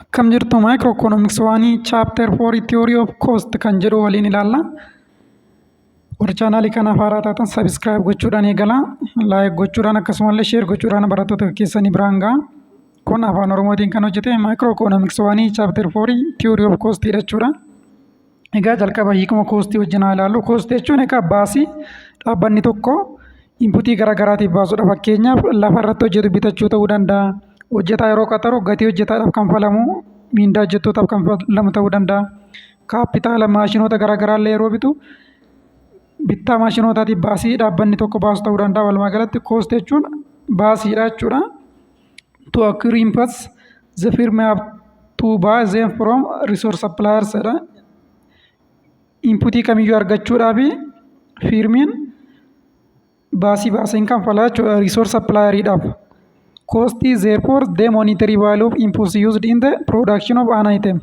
Akkam jirtu maayikiroo ikoonomiks waanii chaapter 4 tiyoorii of koost kan jedhu waliin ilaalla. Warri chaanaalii kanaaf haaraa taatan sabiskiraayib gochuudhaan eegalaa. Laayik gochuudhaan akkasumallee sheer gochuudhaan barattoota keessanii biraan gahaa. Kun afaan Oromootiin kan hojjete maayikiroo ikoonomiks waanii chaapter 4 tiyoorii of koost jechuudha. Egaa jalqaba hiikuma koostii wajjin haa ilaallu. Koostii jechuun egaa baasii dhaabbanni tokko inputii gara garaatiif baasudha. Fakkeenyaaf lafa irratti hojjetu bitachuu ta'uu danda'a. Hojjetaa yeroo qaxaru gatii hojjetaadhaaf kanfalamu miindaa hojjettootaaf kanfalamu ta'uu danda'a. Kaappitaala maashinoota gara garaa illee yeroo bitu bittaa maashinootaatiif baasii dhaabbanni tokko baasu ta'uu danda'a. Walumaa galatti koostii jechuun baasiidha jechuudha. to acquire inputs the firm have to buy them from resource suppliers jedha inputii kamiyyuu argachuudhaaf fiirmiin baasii baaseen kanfalaa jechuudha resource supplieriidhaaf cost is therefore the monetary value of inputs used in the production of an item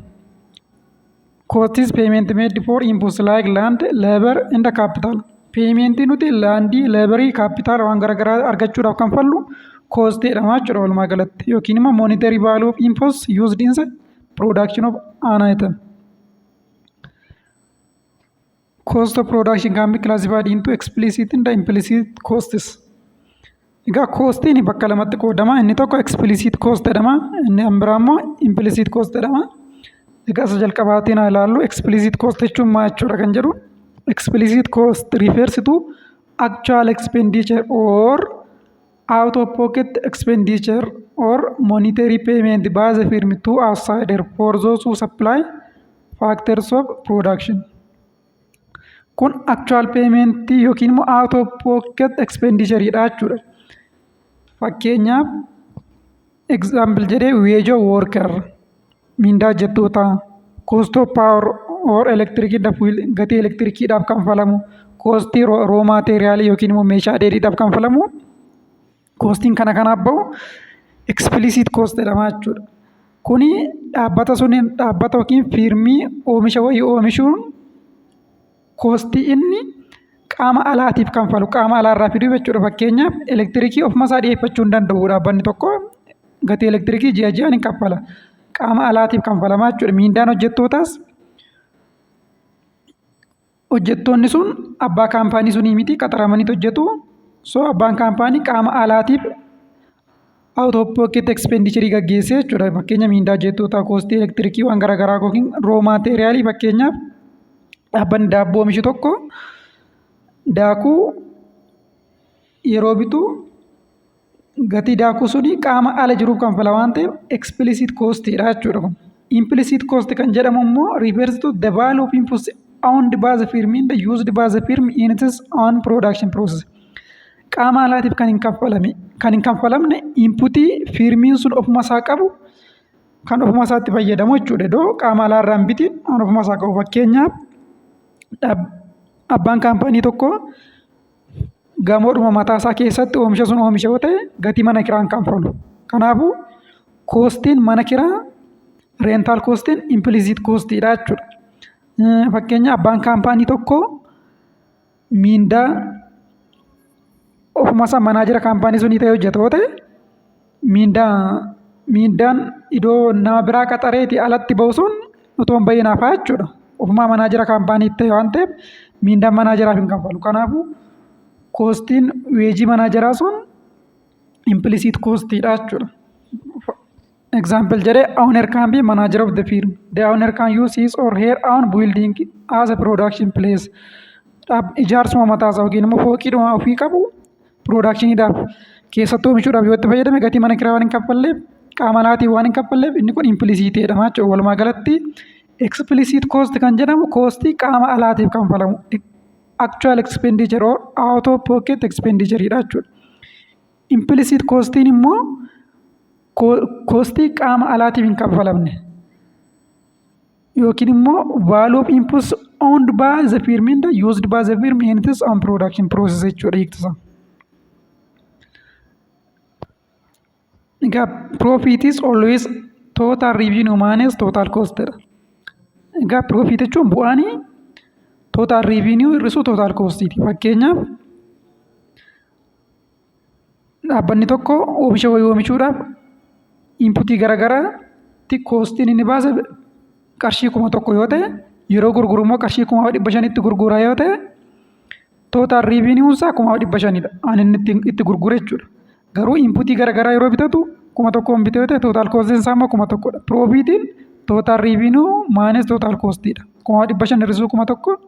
Costs payment made for inputs like land, labor and capital. Paymentii nuti laandii, leebarii, kaapitaala waan garaagaraa argachuudhaaf kan fallu koostiidha jechuudha walumaa galatti yookiin immoo monetary value of inputs used in the production of an item. Cost of production can be classified into explicit and implicit costs. Egaa koostiin bakka lamatti qoodama. Inni tokko explicit cost jedhama. Inni kan biraa immoo implicit cost jedhama. Egaa isa jalqabaatiin haa ilaallu. Explicit cost jechuun maal jechuudha kan jedhu. Explicit cost refers to actual expenditure or out of pocket expenditure or monetary payment by the firm to outsider for those who supply Factors of production. Kun actual payment yookiin immoo out of pocket expenditure dha jechuudha. Fakkeenyaaf example jedhee wage of worker mindaa hojjettootaa cost of power or electric dha fuel gatii elektirikiidhaaf kanfalamu cost raw material yookiin immoo meeshaa dheedhiidhaaf kanfalamu Koostiin kana kanaaf ba'u explicit cost jedhama jechuudha. Kuni dhaabbata suniin dhaabbata yookiin fiirmii oomisha wayii oomishuun koostii inni qaama alaatiif kanfalu qaama alaarraa fiduu jechuudha. Fakkeenyaaf elektirikii ofumasaa dhiyeeffachuu hin danda'u dhaabbanni tokko gatii elektirikii ji'a ji'aan hin kaffala. Qaama alaatiif kanfalamaa jechuudha. Miindaan hojjettootaas Hojjettoonni sun abbaa kaampaanii sunii miti qaxaramaniit hojjetu. So abbaan kaampaanii qaama alaatiif out of pocket expenditure gaggeessee jechuudha. Fakkeenya miindaa hojjettootaa, koostii elektirikii waan garaagaraa yookiin roo maateeriyaalii fakkeenyaaf dhaabbanni daabboo oomishu tokko daakuu yeroo bitu gatii daakuu sunii qaama ala jiruuf kanfala waan ta'eef explicit cost dha jechuudha kun. Implicit cost kan jedhamu immoo refers to the value of inputs owned by the firm and used by the firm in its own production process. Qaama alaatiif kan hin kaffalame kan hin kanfalamne inputii firmiin sun ofuma isaa qabu kan ofuma isaatti fayyadamu jechuudha. Iddoo qaama alaa irraa hin bitiin kan ofuma isaa qabu fakkeenyaaf abbaan kaampaanii tokko gamoodhuma mataa isaa keessatti oomisha sun oomisha yoo ta'e gatii mana kiraa hin kanfalu. Kanaafuu koostiin mana kiraa reental koostiin impiliisiit koostiidha jechuudha. Eh, Fakkeenya abbaan kaampaanii tokko miindaa ofuma isaa manaajera kaampaanii sunii ta'ee hojjeta yoo ta'e miindaa miindaan idoo naa biraa qaxareeti alatti ba'u sun utuu hin ba'iin hafaa jechuudha. Ofumaa manaajera kaampaanii ta'e waan ta'eef miindaan manaajeraaf hin kaffalu. Kanaafuu koostiin weejii manaajeraa sun impilisiit koostiidha jechuudha. Example jedhee owner can be manager of the firm. The owner can use his or her own building as a production place. Dhaab- Ijaarsuma mataasaa yookiin immoo fooqiidhuma ofii qabu piroodakshiniidhaaf keessattuu oomishuudhaaf yoo itti fayyadame gatii mana kiraa waan hin kaffalleef qaama alaatiin waan hin kaffalleef inni kun impilisiitii jedhama jechuudha. Walumaa galatti explicit cost kan jedhamu koostii qaama alaatiif kanfalamu actual expenditure or out of pocket expenditure dha jechuudha. Implicit costiin immoo koostii qaama alaatiif hin kanfalamne yookiin immoo value of inputs owned by the firm and used by the firm in its own production process jechuudha hiiktisa. Egaa profit is always total revenue minus total cost dha. Egaa profit jechuun bu'aan total revenue hir'isuu total cost ti. Fakkeenyaaf Dhaabbanni tokko oomisha wayii oomishuudhaaf inputii gara garaatti koostiin inni baase qarshii kuma tokko yoo ta'e yeroo gurguru immoo qarshii kuma dhibba shanitti gurgura yoo ta'e tootaal riiviiniyuun isaa kuma dhibba shanidha. Ani inni ittiin itti gurgure jechuudha. Garuu inputii gara garaa yeroo bitatu kuma tokkoon bite yoo ta'e tootaal koostiin isaa immoo kuma tokkodha. Piroofiitiin tootaal riiviiniyuu maayinas tootaal koostiidha. Kuma dhibba shan hir'isuu kuma tokko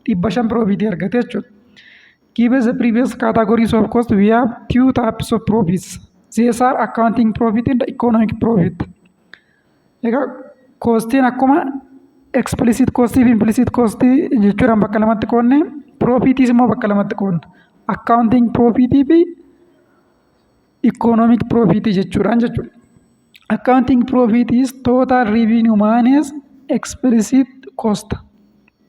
dhibba shan piroofiitii argate jechuudha. Given the previous categories of cost, we have two types of profits. These are accounting profit and economic profit. Egaa koostiin akkuma explicit cost fi implicit cost jechuudhaan bakka lamatti qoodne profitiis immoo bakka lamatti qoodna. Accounting profit fi economic profit jechuudhaan jechuudha. Accounting profit is total revenue minus explicit cost.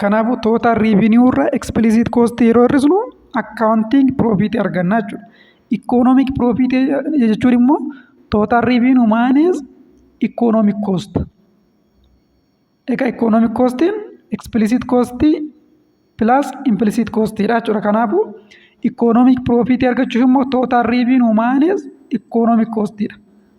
Kanaafuu total revenue irra explicit cost yeroo hir'isnu accounting profit arganna jechuudha. Economic profit jechuun immoo total revenue minus economic cost. Egaa economic costiin explicit cost plus implicit cost dha jechuudha. Kanaafuu economic profit argachuuf immoo total revenue minus economic cost dha.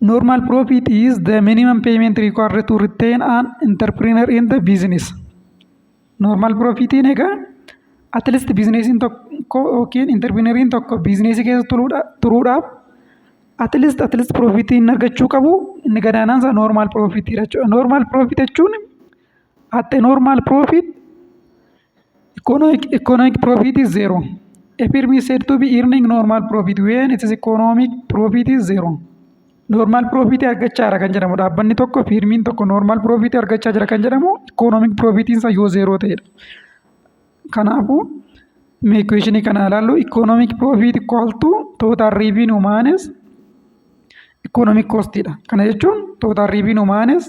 Normal profit is the minimum payment required to retain an entrepreneur in the business. Normal profitiin egaa at least biizineesiin tokko yookiin interpiriineriin tokko biizineesii keessa turuudhaaf at least at least profitiin argachuu qabu inni gadaanaan isaa normal profitiidha jechuudha. Normal profit jechuun at a normal profit Economic, economic profit is zero. A firm is said to be earning normal profit when its economic profit is zero. Normal profit argachaa jira kan jedhamu dhaabbanni tokko firmiin tokko normal profit argachaa jira kan jedhamu economic profit isaa yoo zero ta'edha. Kanaafuu mee equation kana ilaallu economic profit equal to total revenue minus economic cost dha. Kana jechuun total revenue minus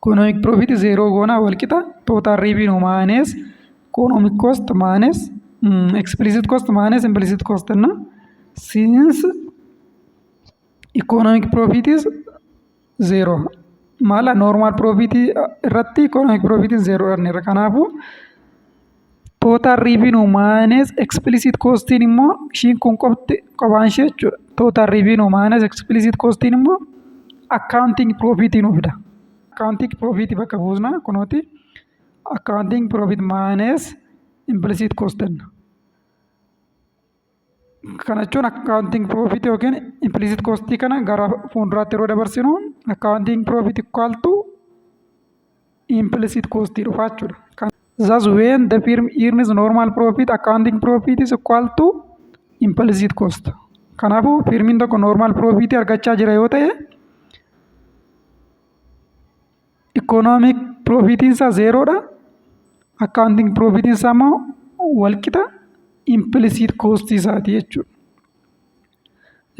Economic profit zeeroo goona walqixa total revenue minus economic cost minus mm, explicit cost minus implicit cost እና since economic profit is zero maala normal profit irratti economic profit is zero dha kanaafuu Total revenue minus explicit costiin immoo ishiin kun qofti qophaan ishee jechuudha. Total revenue minus explicit costiin immoo accounting profit nuuf fida. Accounting profit bakka buusna kunooti. Accounting profit minus implicit cost jenna. Kana jechuun akkaawuntiin piroofitii yookiin impilisit koostii kana gara fuulduraatti yeroo dabarsinu akkaawuntiin piroofitii kaaltu impilisit koostii dhufa jechuudha. Thus when the firm earns normal profit accounting profit is equal to implicit cost. Kanaafuu firmiin tokko normal profit argachaa jira yoo ta'e Ikoonoomik piroofiitiin isaa zeeroodha. Akkaawuntiing piroofiitiin isaa immoo walqixa impilisiit koostii isaati jechuudha.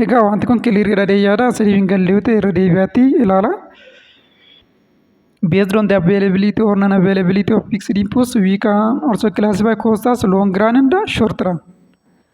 Egaa wanti kun kiliiriidha jedhee yaada isiniif hin galle yoo ta'e irra deebi'aatii ilaala. Based on the availability or non-availability of fixed inputs, we can also classify costs as long run and short run.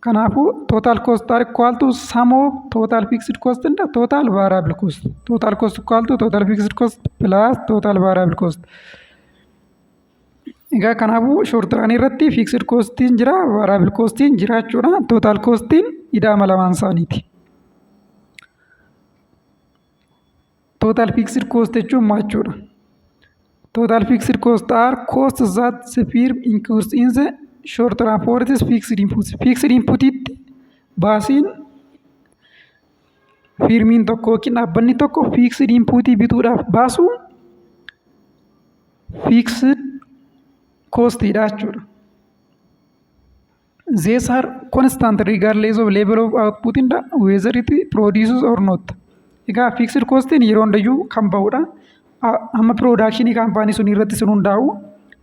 Kanaafuu total cost are equal to sum of total fixed cost and total variable cost. Total cost equal to total fixed cost plus total variable cost. Egaa kanaafuu short run irratti fixed costiin jira variable costiin jira jechuudha. Total costiin idaama lamaan isaaniiti. Total fixed cost jechuun maal jechuudha? Total fixed cost are costs that the firm incurs in the short run for its fixed inputs. Fixed inputitti baasiin firmiin tokko yookiin dhaabbanni tokko fixed inputii bituudhaaf baasu fixed cost dha jechuudha. These are constant regardless of level of output and whether it produces or not. Egaa fixed costiin yeroo hundayyuu kan bahudha. A- Amma piroodakshinii kaampaanii sun irratti sun hundaa'u.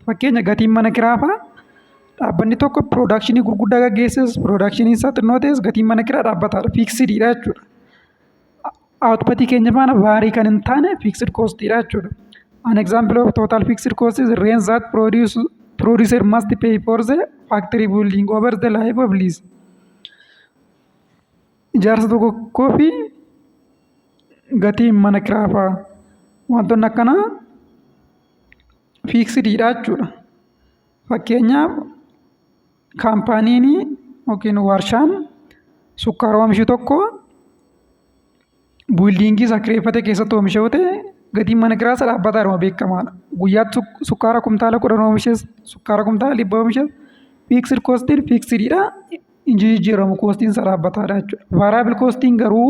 Fakkeenya gatiin mana kiraa fa'a dhaabbanni tokko piroodakshinii gurguddaa gaggeesses piroodakshinii isaa xinnoo ta'es gatiin mana kiraa dhaabbataadha. Fiiksidiidha jechuudha. Output keenya faana vaarii kan hin taane fixed cost dha jechuudha. An example of total fixed cost is rent that produce, producer must pay for the factory building over the life of lease. Ijaarsa tokkoo fi gatiin mana kiraa fa'a wantoonni akkanaa fiiksidiidha jechuudha. Fakkeenyaaf kaampaaniin yookiin warshaan sukkaara oomishu tokko buildiingii isaa kireeffate keessatti oomisha yoo ta'e gatiin mana kiraa isa dhaabbataadhuma beekamaadha. Guyyaatti suk- sukkaara kumtaala kudhan oomishes sukkaara kumtaala dhibba oomishes fiiksir koostiin fiiksiridha. Hin jijjiiramu koostiin isa dhaabbataadha jechuudha. Vaaraayibl koostiin garuu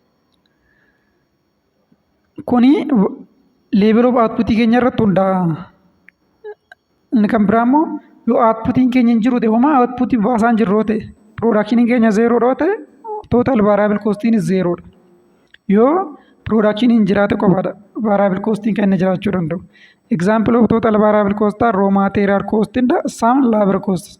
Kuni level of output keenya irratti hundaa'a. Inni kan biraa immoo yoo outputiin keenya hin jiru ta'e homaa output baasaa hin jirru yoo ta'e production keenya zero yoo ta'e total variable cost is zero dha. Yoo production hin jiraate qofaadha variable cost kan inni jiraachuu danda'u. Example of total variable cost are raw material cost and some labor cost.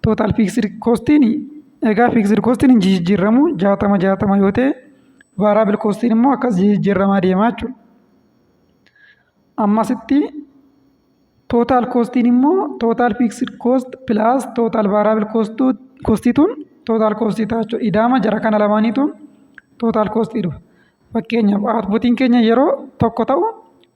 Total fixed costiin egaa fixed costiin hin jijjiirramu jaatama jaatama yoo ta'e variable costiin immoo akkas jijjiirramaa deemaa jechuudha. Ammasitti total costiin immoo total fixed cost plus total variable cost costituun total cost ta'a jechuudha. Idaama jara kana lamaaniituun total cost dhufa. Fakkeenyaaf outputiin keenya yeroo tokko ta'u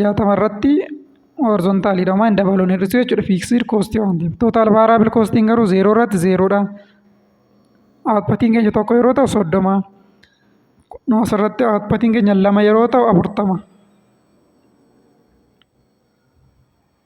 jaatama irratti horizontaali dha waan dabaluun hir'isu jechuudha fiiksir koostii waan ta'eef tootaal vaaraabil koostiin garuu zeeroo irratti zeeroo dha outputiin keenya tokko yeroo ta'u soddoma noos irratti outputiin keenya lama yeroo ta'u afurtama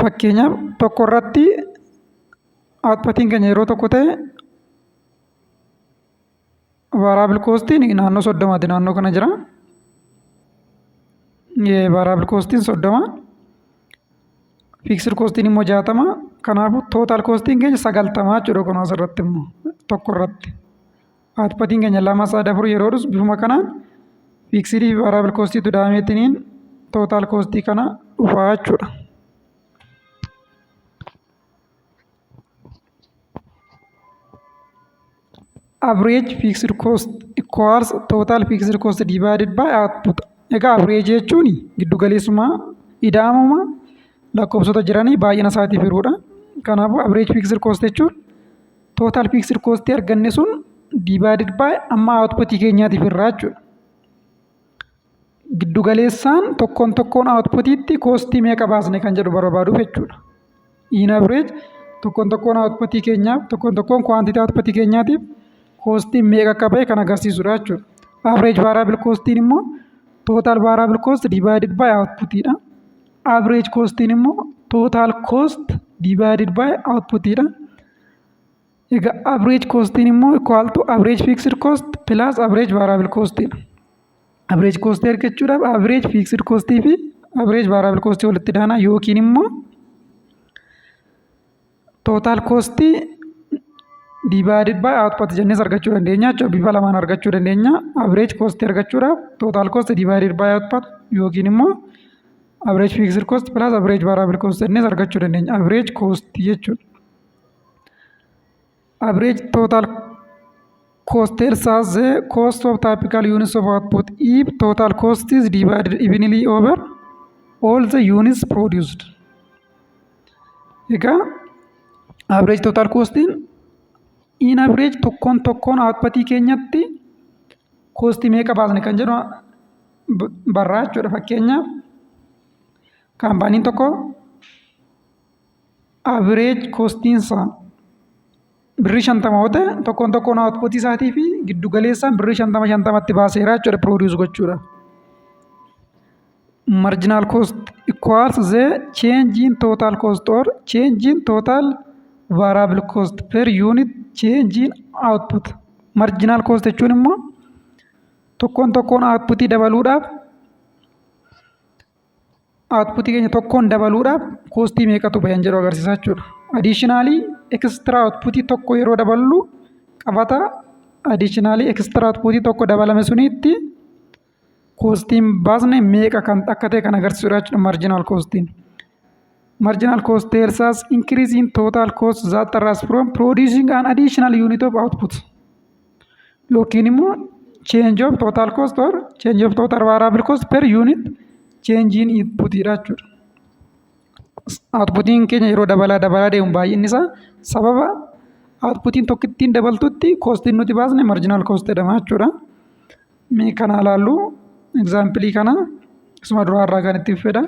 Fakkeenyaaf tokko irratti outputiin keenya yeroo tokko ta'e variable costiin naannoo soddomaati naannoo kana jira. Variable costiin soddoma. Fixed costiin immoo jaatama. Kanaafuu total costiin keenya sagaltama jechuudha kun asirratti immoo tokko irratti. Aatpatiin keenya lama sadii afur yeroo dhusu bifuma kanaan fiiksiidii fi vaaraabal koostiitu daameetiniin tootaal koostii kana dhufaa jechuudha. Average fixed cost equals total fixed cost divided by output. Egaa average jechuun giddu galeessummaa ida'amuma lakkoofsota jiranii baay'ina isaatiif hiruudha. Kanaafuu average fixed cost jechuun Total fixed cost arganne sun divided by amma output keenyaatiif irraa jechuudha. Giddu galeessaan tokkoon tokkoon outputiitti koostii meeqa baasne kan jedhu barbaaduuf jechuudha. In average tokkoon tokkoon outputii keenyaaf tokkoon tokkoon quantity outputii keenyaatiif koostiin meeqa akka ba'e kan agarsiisudha jechuudha. Average variable koostiin immoo total variable cost divided by outputidha. Average koostiin immoo total cost divided by outputidha. Egaa average costiin immoo equal to average fixed cost plus average variable cost dha. Average cost argachuudhaaf average fixed cost fi average variable cost walitti daana yookiin immoo total cost divided by output jennees argachuu dandeenya jechuudha. Bifa lamaan argachuu dandeenya. Average cost argachuudhaaf total cost divided by output yookiin immoo Average fixed cost plus average variable cost jennees argachuu dandeenya. Average cost jechuudha. Average total cost tells us the cost of typical units of output if total cost is divided evenly over all the units produced. Egaa average total costiin in average tokkoon tokkoon outputii keenyatti koostii meeqa baasne kan jedhu barraa jechuudha fakkeenyaaf kaampaaniin tokko average kostiin isaa birrii shantama yoo ta'e tokkoon tokkoon outputii isaatii fi giddu galeessaan birrii shantama shantamatti baaseera jechuudha produce gochuudha. Marginal cost equals the change in total cost or change in total variable cost per unit change in output. Marginal cost jechuun immoo Tokkoon tokkoon output dabaluudhaaf output keenya tokkoon dabaluudhaaf koostii meeqatu bayan jedhu agarsiisa jechuudha. Additionally extra output tokko yeroo daballu qabata additionally extra output tokko dabalame sunitti koostiin baasne meeqa kan akka ta'e kan agarsiisudha jechuudha marginal koostiin. Marginal cost tells us increase in total cost that arises from producing an additional unit of output. yookiin immoo change of total cost or change of total variable cost per unit change in input dha jechuudha. Outputiin keenya yeroo dabalaa dabalaa deemu baay'inni isaa sababa outputiin tokkittiin dabaltutti kostiin nuti baasne marginal cost jedhama jechuudha. Mee kana ilaallu egzaampilii kana isuma duraa irraa kan itti fedha.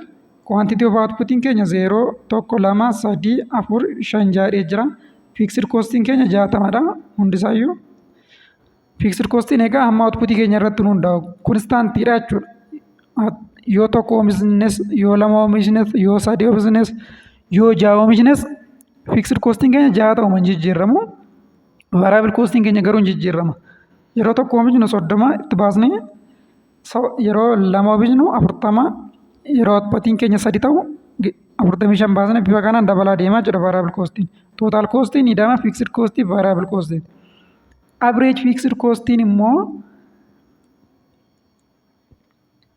Quantity of outputiin keenya 0, 1, 2, 3, 4, 5 jaadhee jira. Fixed costiin keenya 60 dha hundisaayyuu. Fixed costiin egaa hamma outputii keenya irratti hundaa'u konstaantii dha jechuudha. Yoo tokko oomishnes, yoo lama oomishnes, yoo sadii oomishnes, yoo ja'a oomishnes fixed costiin keenya ja'a ta'u hin jijjiiramu. Variable costiin keenya garuu hin jijjiirrama. Yeroo tokko oomishnu soddoma itti baasnee yeroo lama oomishnu afurtama yeroo outputiin keenya sadi ta'u afurtamii shan baasnee bifa kanaan dabalaa deemaa jira variable costiin. Total costiin ida'ama fixed costii variable costiin. Average fixed costiin immoo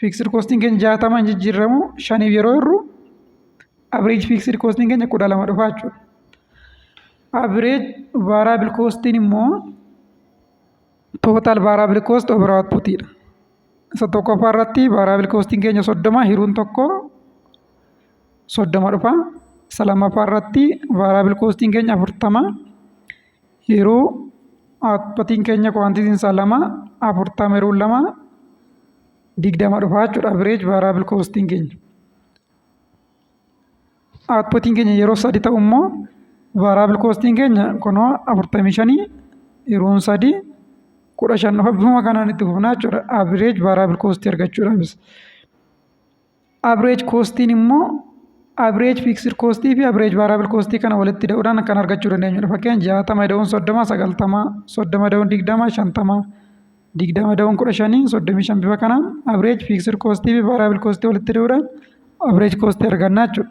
Fiiksir koostiin keenya jaatama hin jijjiirramu shaniif yeroo hirru average fiiksir koostiin keenya kudha lama dhufa jechuudha. Average variable koostiin immoo total variable cost over output dha. Isa tokkoffaa irratti variable koostiin keenya soddoma hiruun tokko soddoma dhufa. Isa lammaffaa irratti variable koostiin keenya afurtama Yeroo aappatiin keenya kuwaantitiin isaa lama afurtama yeroo lama digdama dhufaa jechuudha average variable costiin keenya. Aappatiin keenya yeroo sadi ta'u immoo variable costiin keenya kunoo afurtamii shanii yeroon sadi kudha shan dhufa bifuma kanaan itti fufnaa jechuudha average variable cost argachuudhaafis. Average koostiin immoo average fixed cost fi average variable cost kana walitti hidhuudhaan kan argachuu dandeenyudha. Fakkeenya jaatama ida'uun soddoma sagaltama soddoma ida'uun digdama shantama digdama ida'uun kudha shanii soddomii shan bifa kanaan average fixed cost fi variable cost walitti hidhuudhaan average cost argannaa jechuudha.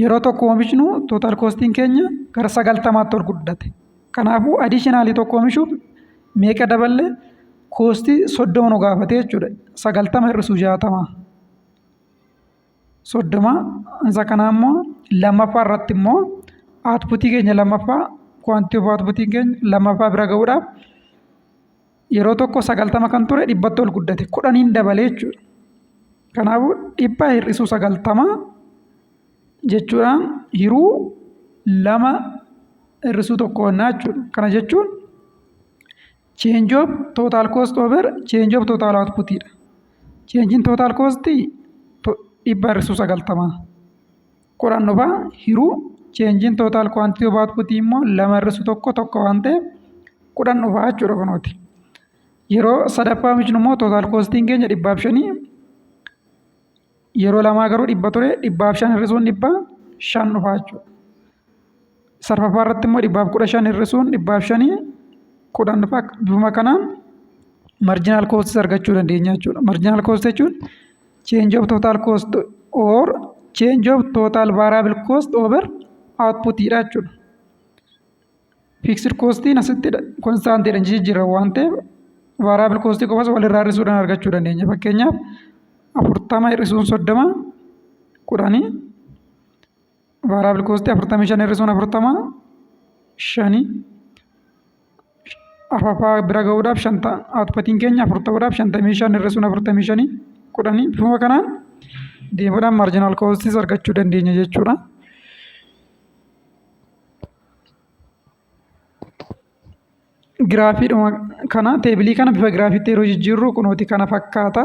Yeroo tokko oomishnu total costiin keenya gara sagaltamaatti ol guddate. Kanaafuu additionally tokko oomishuuf meeqa daballe koostii soddoma nu gaafate jechuudha. Sagaltama hir'isuu jaatama. Soddoma isa kanaa immoo lammaffaa irratti immoo outputii keenya lammaffaa quantity of outputiin keenya lammaffaa bira ga'uudhaaf yeroo tokko sagaltama kan ture dhibbatti ol guddate kudhaniin dabalee jechuudha. Kanaafuu dhibba hir'isuu sagaltama jechuudhaan hiruu lama hir'isuu tokko honnaa jechuudha. Kana jechuun change of total cost over change of total output dha. Change'n total cost dhibba hir'isuu sagaltama. Qoranno faa hiruu change in total quantity of output immoo lama irrisu tokko tokko waan ta'eef kudhan dhufaa jechuudha kunooti. Yeroo sadaffaa micnu immoo total costiin keenya dhibbaaf shanii yeroo lamaa garuu dhibba ture dhibbaaf shan hirrisuun dhibba shan dhufaa jechuudha. Sarfafaa irratti immoo dhibbaaf kudha shan hir'isuun dhibbaaf shanii kudhan dhufa. Bifuma kanaan marginal costs argachuu dandeenya jechuudha. Marginal cost jechuun change of total cost or change of total variable cost over output dha jechuudha. Fixed costiin asitti constant dha jijjiirra waan ta'eef variable cost qofas walirraa hir'isuudhaan argachuu dandeenya. Fakkeenyaaf afurtama hir'isuun soddoma kudhanii Baaraa bilkoostii afurtamii shan hir'isuun afurtama shani afafaa bira gahuudhaaf shanta outputiin keenya afur ta'uudhaaf shantamii shan hir'isuun afurtamii shani kudhanii bifuma kanaan deemuudhaan marginal costs argachuu dandeenya jechuudha. Giraafiidhuma kana teebilii kana bifa giraafiitti yeroo jijjiirru kunooti kana fakkaata.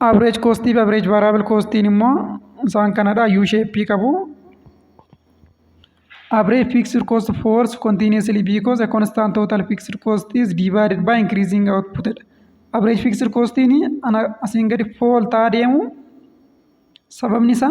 Average cost fi average variable costiin immoo isaan kanadha U shape qabu. Average fixed cost falls continuously because a constant total fixed cost is divided by increasing output. Average fixed costiin ana asiin gadi fall ta'aa deemu sababni isaa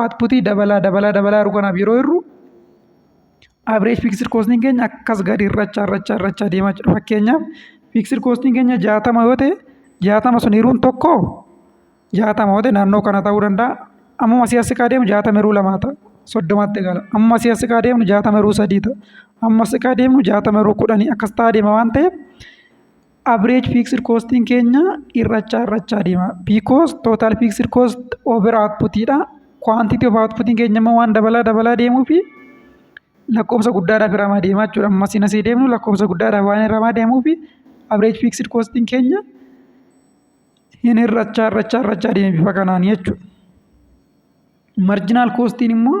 Outputii dabalaa dabalaa dabalaa jiru kanaaf yeroo hirru average fixed costing keenya akkas gadi irrachaa irrachaa irrachaa deemaa jira. Fakkeenyaaf fixed costing keenya jaatama yoo ta'e jaatama sun hiruun tokko jaatama yoo ta'e naannoo kana ta'uu danda'a. Ammuma asii as siqaa deemu jaatama hiruu lamaa ta'a. Soddomatti gala. Ammuma asii as siqaa deemnu jaatama hiruu sadii ta'a. Ammuma as siqaa deemnu jaatama hiruu kudhanii akkas ta'aa deema waan ta'eef average fixed costiin keenya hir'achaa hir'achaa deema because total fixed cost over output dha quantity of output keenya immoo waan dabalaa dabalaa deemuu fi lakkoofsa guddaadhaaf hiramaa deemaa jechuudha amma siin asii deemnu lakkoofsa guddaadhaaf waan hiramaa deemuu fi average fixed costiin keenya hin hir'achaa hir'achaa hir'achaa deema bifa kanaan jechuudha. Marginal costiin immoo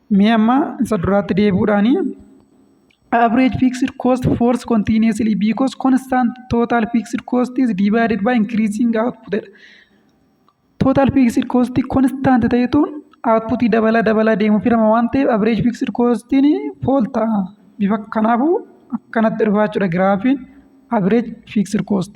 Mee amma isa duraatti deebi'uudhaani average fixed cost falls continuously because constant total fixed cost is divided by increasing output dha. Total fixed cost constant ta'etu output dabala dabala deemu firama waan ta'eef average fixed costiin fall ta'a. Bifa kanaafuu akkanatti dhufaa jechuudha giraafiin average fixed cost.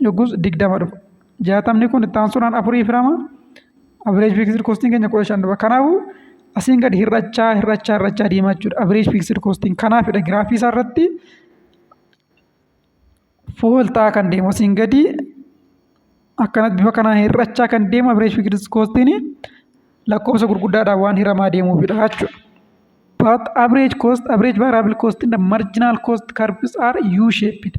yoggus digdama dhufa. Jaatamni kun itti aansuudhaan afurii firama. Average fixed costing keenya kudha shan dhufa. Kanaafuu asiin gadi hir'achaa hir'achaa hir'achaa deemaa jechuudha. Average fixed costing kanaafidha giraafii isaa irratti fool ta'aa kan deemu asiin gadi akkanatti bifa kanaan hir'achaa kan deemu average fixed costing lakkoofsa gurguddaadhaan waan hiramaa deemuufidha jechuudha. But average cost, average variable cost and the marginal cost curves are U-shaped.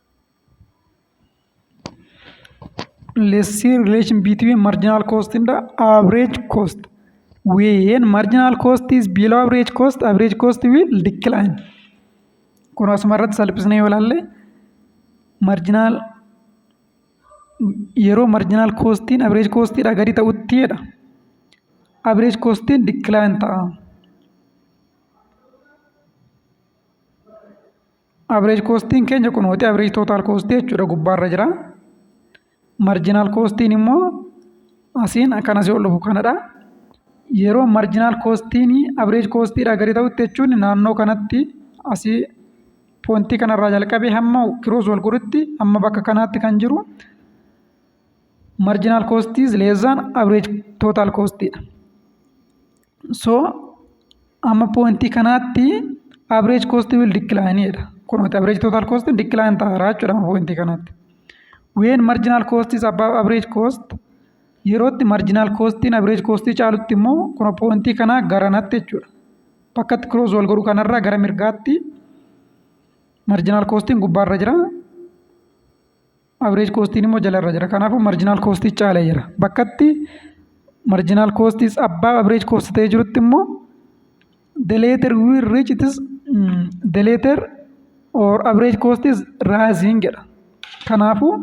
let's see relation between marginal cost and average cost when marginal cost is below average cost average cost will decline kun asuma irratti salphisnee yoo ilaalle marginal yeroo marginal costiin average costiidha gadi ta'utti jedha average costiin decline ta'a Average koostiin keenya kunooti average total koostii jechuudha gubbaarra jira. Marginal koostiin immoo asiin akkan asii ol dhufu kanadha. Yeroo marginal koostiin average koostiidhaa gadi ta'utti jechuun naannoo kanatti asii poontii kanarraa jalqabee hamma kiroos wal godhutti hamma bakka kanaatti kan jiru marginal koostii leezaan average total koostiidha. So amma pointii kanaatti average cost will decline jedha. Kunuuti average total cost decline ta'aara jechuudha amma pointii kanaatti. When marginal cost is above average cost yerootti marginal costiin average costii caalutti immoo kun pointii kanaa garanatti jechuudha. Bakkatti cross wal godhu kanarraa gara mirgaatti marginal costiin gubbaarra jira. Average koostiin immoo jala irra jira. Kanaafuu marginal koostii caala jira. Bakkatti marginal koostis abbaa average koosti ta'ee jirutti immoo the later we reach it is mm, the later or average cost is rising jedha. Kanaafuu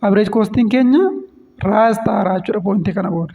average koostiin keenya rise ta'aara jechuudha pointii kana booda.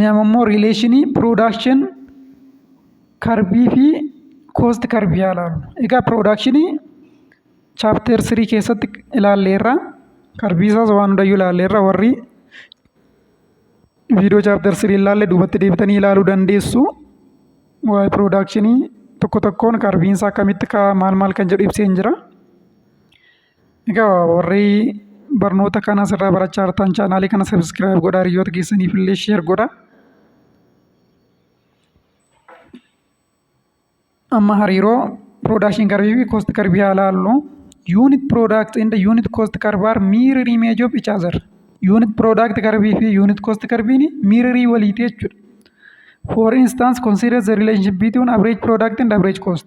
Nama immoo riileeshinii piroodakshin karbii fi koost karbii haa ilaallu. Egaa piroodakshinii chaapteer sirii keessatti ilaalleerra. Karbii isaas waan hundayyuu ilaalleerra warri viidiyoo chaapteer sirii ilaalle duubatti deebitanii ilaaluu dandeessu. Waa'ee piroodakshinii tokko tokkoon karbiin isaa akkamitti ka'a maal maal kan jedhu ibseen jira. Egaa warri barnoota kana asirraa barachaa jirtan chaanaalii kana sabiskiraayib godhaa hiriyoota keessaniif illee sheer godha. Amma hariiroo production curve fi cost curve haa ilaallu. Unit product and unit cost curve are mirror image of each other. Unit product curve fi unit cost curve ni mirror waliiti jechuudha. For instance, consider the relationship between average product and average cost.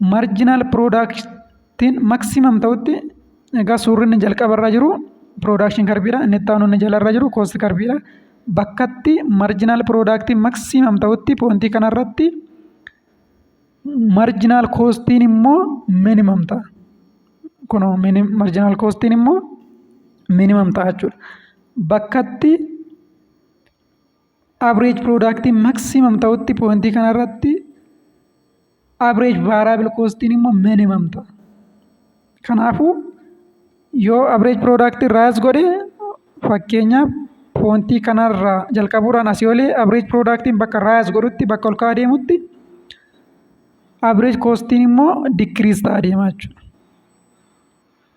marginal product'n maximum ta'utti egaa suurri inni jalqaba irra jiru production curve dha inni itti aanu inni jala irra jiru cost curve dha bakkatti marginal product'n maximum ta'utti pointii kana irratti marginal cost'n immoo minimum ta'a kun marginal cost'n immoo minimum ta'a jechuudha bakkatti Average product maximum ta'utti pointii kanarratti average variable costiin immoo minimum ta'a. Kanaafuu yoo average product irraa as godhe fakkeenyaaf pointii kanarraa jalqabuudhaan asii olee average productiin bakka irraa as godhutti bakka ol ka'aa deemutti average costiin immoo decrease ta'a deemaa jechuudha.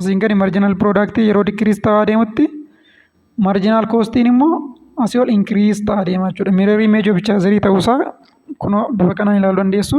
Asiin gadi marginal product yeroo decrease ta'aa deemutti marginal costiin immoo asii ol increase ta'aa deema jechuudha. Mirror image of chazerii ta'uusaa kunoo bifa kanaan ilaaluu dandeessu.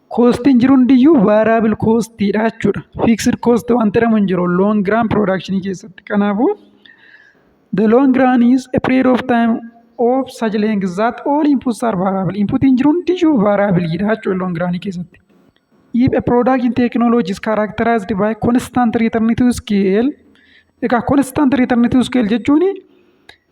Koostiin jiru hundiyyuu vaaraabil koostiidha jechuudha. Fiiksir koosti waan jedhamu hin jiru loong raan piroodakshinii keessatti. Kanaafuu the long run is a period of time of such length that all inputs are variable. Inputiin jiru hundiyyuu vaaraabiliidha jechuudha loong raanii keessatti. If a product in technology is characterized by constant return to scale, egaa constant return to scale jechuun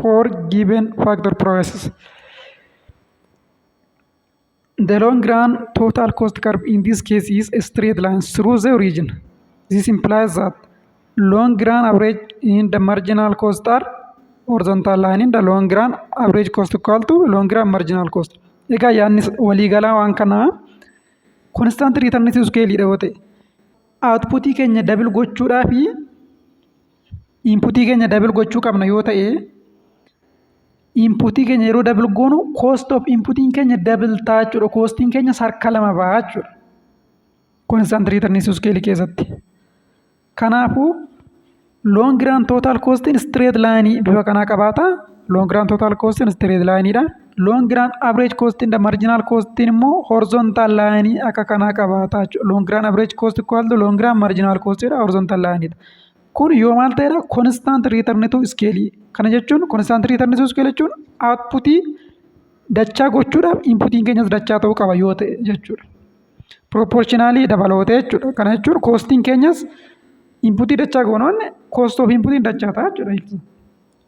for given factor prices. The long run total cost curve in this case is a straight line through the origin. This implies that long run average in the marginal cost are horizontal line in the long run average cost equal to long run marginal cost. Egaa yaadni waliigalaa waan kanaa konstant return iskeeliidha yoo ta'e outputii keenya dabil gochuudhaa fi Inputii keenya dabil gochuu qabna yoo ta'e inputii keenya yeroo dabil goonu cost of inputiin keenya dabil ta'a jechuudha. Koostiin keenya harka lama ba'a jechuudha. Constant return isu scale keessatti. Kanaafuu long run total costiin straight line bifa kanaa qabaata. Long run total costiin straight line dha. Long run average costiin dha. Marginal costiin immoo horizontal line akka kanaa qabaata jechuudha. Long run average cost equal to long run marginal cost dha. Horizontal line dha. Kun yoo maal ta'edha? Konstant return to scale. Kana jechuun konstant return to scale jechuun outputii dachaa gochuudhaaf inputiin keenyas dachaa ta'uu qaba yoo ta'e jechuudha. Proportionally dabaloota jechuudha. Kana jechuun koostiin keenyas inputii dachaa goonoon koost of inputiin dachaa ta'a jechuudha.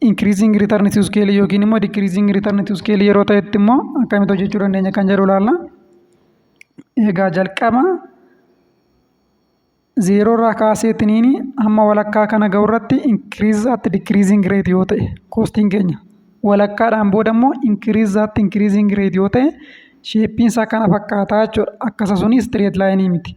Increasing return to scale yookiin immoo decreasing return to scale yeroo ta'etti immoo akkamitti hojjechuu dandeenya kan jedhu ilaalla. Egaa jalqaba zeeroo irraa kaaseetiniin hamma walakkaa kana ga'u irratti increase at decreasing rate yoo ta'e koostiin keenya walakkaadhaan booda immoo increase at increasing rate yoo ta'e sheeppiin isaa kana fakkaataa jechuudha. Akkasa suni straight line miti.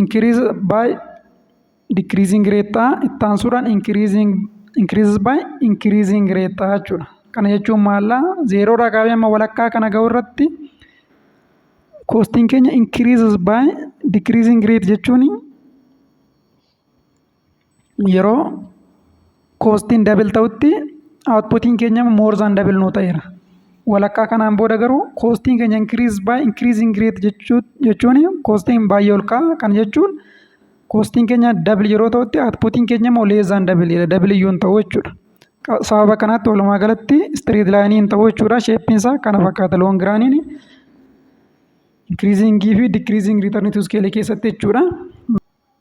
increase by decreasing rate ta'a itti aansuudhaan increasing increases by increasing rate ta'a jechuudha. Kana jechuun maalla zeeroo irraa kaafee amma walakkaa kana ga'u irratti koostiin keenya increases by decreasing rate jechuun yeroo koostiin dabil ta'utti outputiin keenya more than dabil nuu ta'eera. Walakkaa kanaan booda garuu koostiin keenya increase by increasing rate jechuu- jechuun koostiin baay'ee ol ka'a. Kana jechuun koostiin keenya dabil yeroo ta'utti outputiin keenya immoo less than dabil jedha. Dabil iyyuu hin ta'u jechuudha. Qa- Sababa kanaatti walumaa galatti straight line hin ta'u jechuudha. Shape isaa kana fakkaata long run increasing fi decreasing return to scale keessatti jechuudha.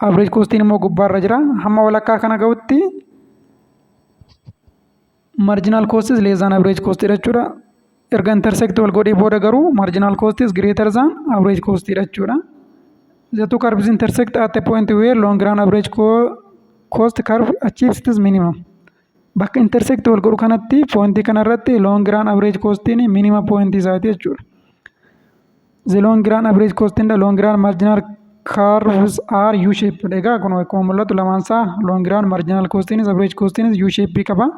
Average costiin immoo gubbaarra jira. Hamma walakkaa kana ga'utti marginal cost is less than average cost dha jechuudha. Erga intersect wal godhee booda garuu marginal cost is greater than average cost dha jechuudha. The two curves intersect at a point where long run average co cost curve achieves its minimum. Bakka intersect wal godhu kanatti poointii kanarratti long run average costiin minima poointii isaati jechuudha. The long run average cost and the long run marginal curves are U shape. Egaa kun akkuma mul'atu lamaan isaa long run marginal costiinis average costiinis U shape qaba.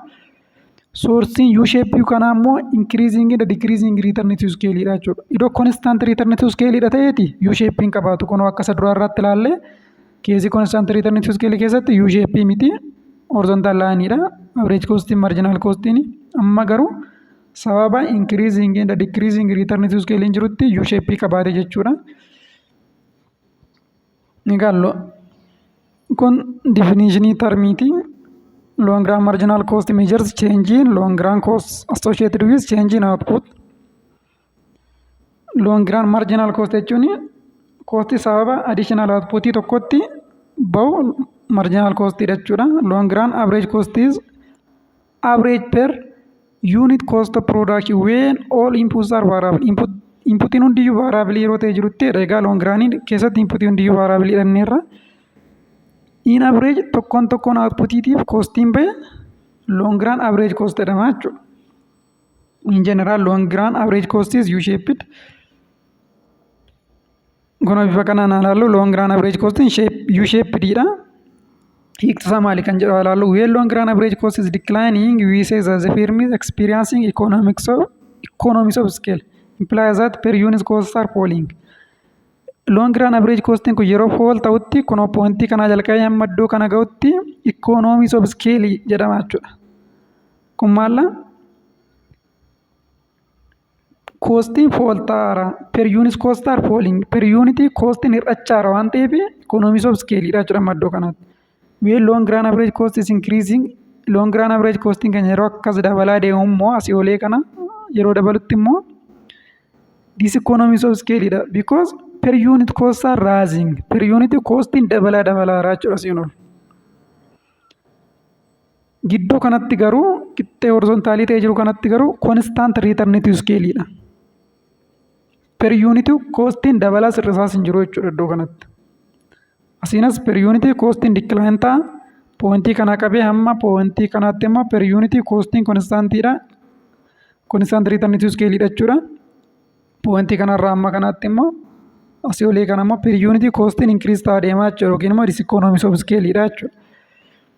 Sourcing U shape kanaa immoo increasing and decreasing return to scale dha jechuudha. Iddoo constant return to scale dha ta'eeti U shape hin qabaatu. Kun akka isa duraa irratti ilaallee Keesii konstant return to scale keessatti U shape miti horizontal line dha. Average cost marginal cost ni. Amma garuu sababa increasing and decreasing return to scale jirutti U shape qabaate jechuudha. Egaan kun definition termiiti. Long run marginal cost measures change in long run costs associated with change in output. Loon giraand maarjinaal koost jechuun koostii sababa additional output tokkotti bahu marginal cost jechuudha. Loon giraand average cost is average per unit cost of production when all inputs are variable. Input inputiin hundiyyuu vaaraabilii yeroo ta'e jirutti jedha. Egaa loon giraanii keessatti inputii hundiyyuu vaaraabilii dhanneerra. In average tokkoon tokkoon outputiitiif koostiin bahe loon giraan average cost jedhama jechuudha. in general long run average cost is u shaped kun bifa kanaan haa ilaallu long run average cost in shape u shaped dha hiikti isaa maali kan jedhu haa ilaallu when long run average cost is declining we say that the firm is experiencing economics of economies of scale implies that per unit costs are falling long run average cost kun yeroo fall ta'utti kun pointii kanaa jalqabee hamma iddoo kana ga'utti economies of scale jedhama jechuudha Kun maalla? Koostiin fooltaara. Per yuunis koostaar fooliing. Per yuunitii koostiin hir'achaara waan ta'eef ikoonoomii soof iskeeliidha jechuudha amma iddoo kanatti. Weel loon giraan average cost is increasing. Loon giraan average costiin keenya yeroo akkas dabalaa deemu immoo asii olee kana yeroo dabalutti immoo this economies of scale dha because per unit costs are rising per unit costiin dabalaa dabalaara jechuudha siin ol. Gidduu kanatti garuu qixxee horizontaalii ta'ee jiru kanatti garuu konstant return to scale dha. Per unit costiin dabalaa sirrisaas hin jiru jechuudha iddoo kanatti. Asiinas per unit costiin decline ta'a. Poointii kanaa qabee hamma poointii kanaatti immoo per unit costiin konstantiidha. Konstant return to scale dha jechuudha. Poointii kanarraa hamma kanaatti immoo asii olii kana immoo per unit costiin increase ta'a deemaa jechuudha yookiin immoo it is economies of scale dha jechuudha.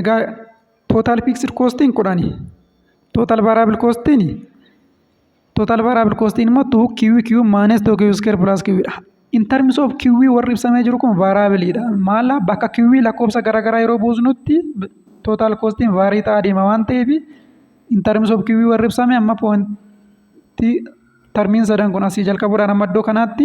Egaa total fixed costiin kudhani. Total variable costiin total variable costiin immoo 2QQ minus 2Q square plus Q dha. In terms of QV warri ibsamee jiru kun variable dha. Maala bakka QV lakkoofsa garaagaraa yeroo buusnutti total costiin vaarii ta'aa deema waan ta'eef in terms of QV warri ibsame amma point tarmiin sadan kun asii jalqabuudhaan amma iddoo kanaatti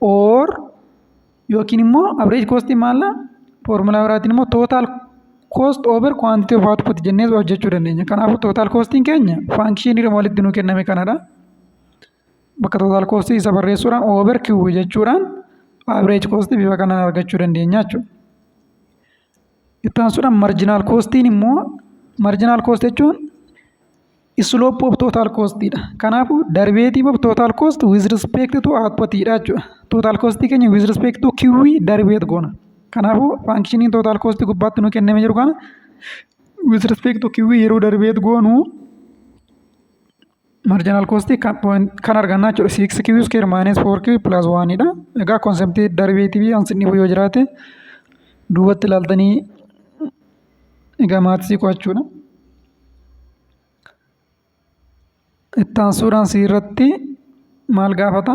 or yookiin immoo average cost maalla formulaa biraatiin immoo total cost over quantity of output jennee hojjechuu dandeenya. Kanaafuu total costiin keenya function irra walitti nuu kenname kanadha. Bakka total cost isa barreessuudhaan over q jechuudhaan average cost bifa kanaan argachuu dandeenya jechuudha. Itti aansuudhaan marginal costiin immoo marginal cost jechuun slope of total cost dha. Kanaafuu derivative of total cost with respect to output dha jechuudha. Total cost keenya with respect to QE derivative goona. Kanaafuu functioning total cost gubbaatti nu kenname jiru kana with respect to QE yeroo derivative goonu marginal cost kan point kan arganna jechuudha. 6Q square minus 4Q plus 1 dha. Egaa concept derivative ansin dhibu yoo jiraate duubatti ilaaltanii Egaa maaksii qo'achuudha. Itti aansuudhaan si irratti maal gaafata?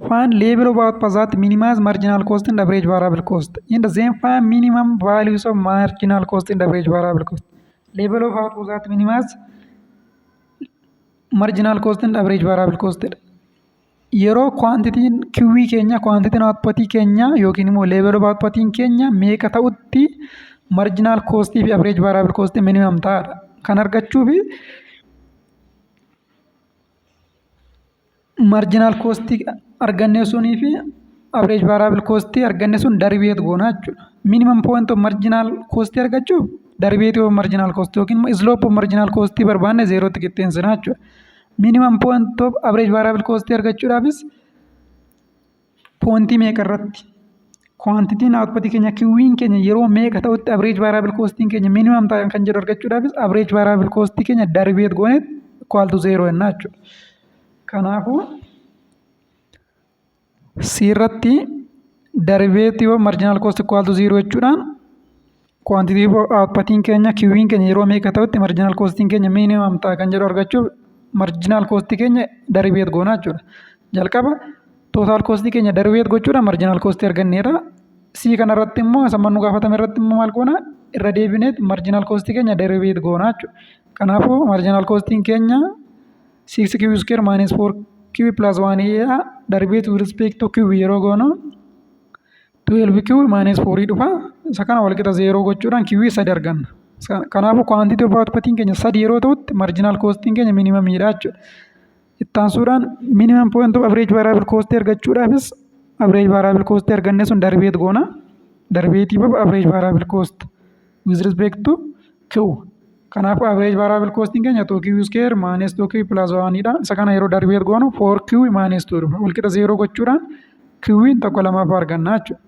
Find level of output that minimize marginal cost and average variable cost and then find minimum values of marginal cost and average variable cost. Level of output that minimize marginal cost and average variable cost jedha. yeroo kwaantitiin kiwwii keenya kwaantitiin outputii keenya yookiin immoo level of outputiin keenya meeqa ta'utti marginal cost fi average variable cost minimum ta'adha kan argachuuf marginal cost arganne sunii fi average variable cost arganne sun derivative goona jechuudha minimum point of marginal cost argachuuf derivative of marginal cost yookiin immoo slope of marginal cost barbaanne zeerootti qixxeessina jechuudha Minimum point of average variable cost argachuudhaafis pointii meeqa irratti quantitiin output keenya kiwwiin keenya yeroo meeqa ta'utti average variable costiin keenya minimum ta'a kan jedhu argachuudhaafis average variable cost keenya derivative goone equal to zero jennaa jechuudha. Kanaafuu C irratti derivative of marginal cost equal to zero jechuudhaan quantity of outputiin keenya kiwiin keenya yeroo meeqa ta'utti marginal costiin keenya minimum ta'a kan jedhu argachuuf marginal cost keenya derivative goona jechuudha. Jalqaba total cost keenya derivative gochuudhaan marginal cost arganneerra. C kanarratti immoo isa mannu gaafatame irratti immoo maal goona irra deebineet marginal cost keenya derivative goona jechuudha. Kanaafuu marginal costiin keenya 6 kiwi square minus 4 kiwi plus 1 jedha darbee to respect to kiwi yeroo goonu 12 kiwi minus 4 dhufa isa kana walqixa zeeroo gochuudhaan kiwi sadi arganna kanaafuu quantity of outputiin keenya sadi yeroo ta'utti marginal costiin keenya minimum dha jechuudha ittaansuudhaan minimum point of average variable cost argachuudhaafis average variable cost arganne sun darbeet goona darbeetii baba average variable cost with respect to q kanaafuu average variable costing keenya 2q square minus 2q plus 1 dha isa kana yeroo darbee goonu 4q minus 2 dhufa walqixa 0 gochuudhaan q'n tokko lamaffaa arganna jechuudha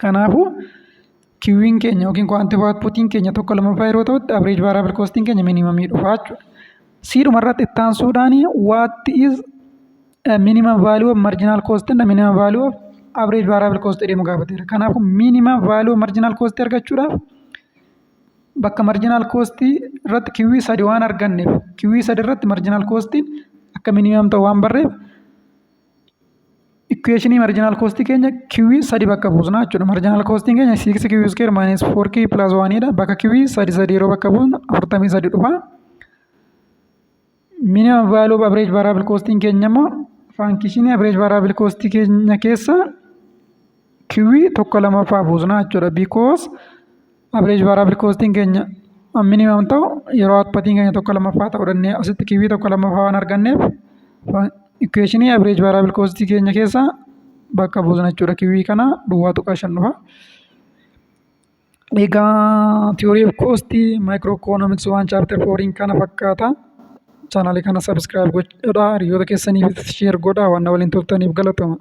kanaafuu q'n keenya yookiin quantitative outputiin keenya tokko lamaffaa yeroo ta'utti average variable costing keenya minimumii dhufa jechuudha siidhuma irratti ittaansuudhaan what is minimum value of marginal cost and minimum value of average variable cost jedhamu gaafateera. Kanaafuu minimum value of marginal cost argachuudhaaf bakka marginal cost irratti kiwwii sadi waan arganneef kiwwii sadi irratti marginal cost akka minimum ta'u waan barreef equationii marginal cost keenya kiwwii sadi bakka buusna jechuudha. Marginal cost keenya 6 kiwwii square minus 4 kiwwii plus 1 dha. Bakka kiwwii sadi sadi yeroo bakka buusnu 43 dhufa. Minimum value of average variable costing keenya immoo faankishinii average variable cost keenya keessa kiwii tokko lamaffaa buusna jechuudha. Because average variable costing keenya minimum ta'u yeroo outputiin keenya tokko lamaffaa ta'u danda'e asitti kiwii tokko lamaffaa waan arganneef equationii average variable cost keenya keessa bakka buusna jechuudha. Kiwii kana duwwaa tuqaa shan dhufa. Egaa theory of cost microeconomics waan chapter 4 kana fakkaata. Channel kana subscribe godhaa hiriyoota keessaniif share godhaa waan na waliin turtaniif galatoomaa.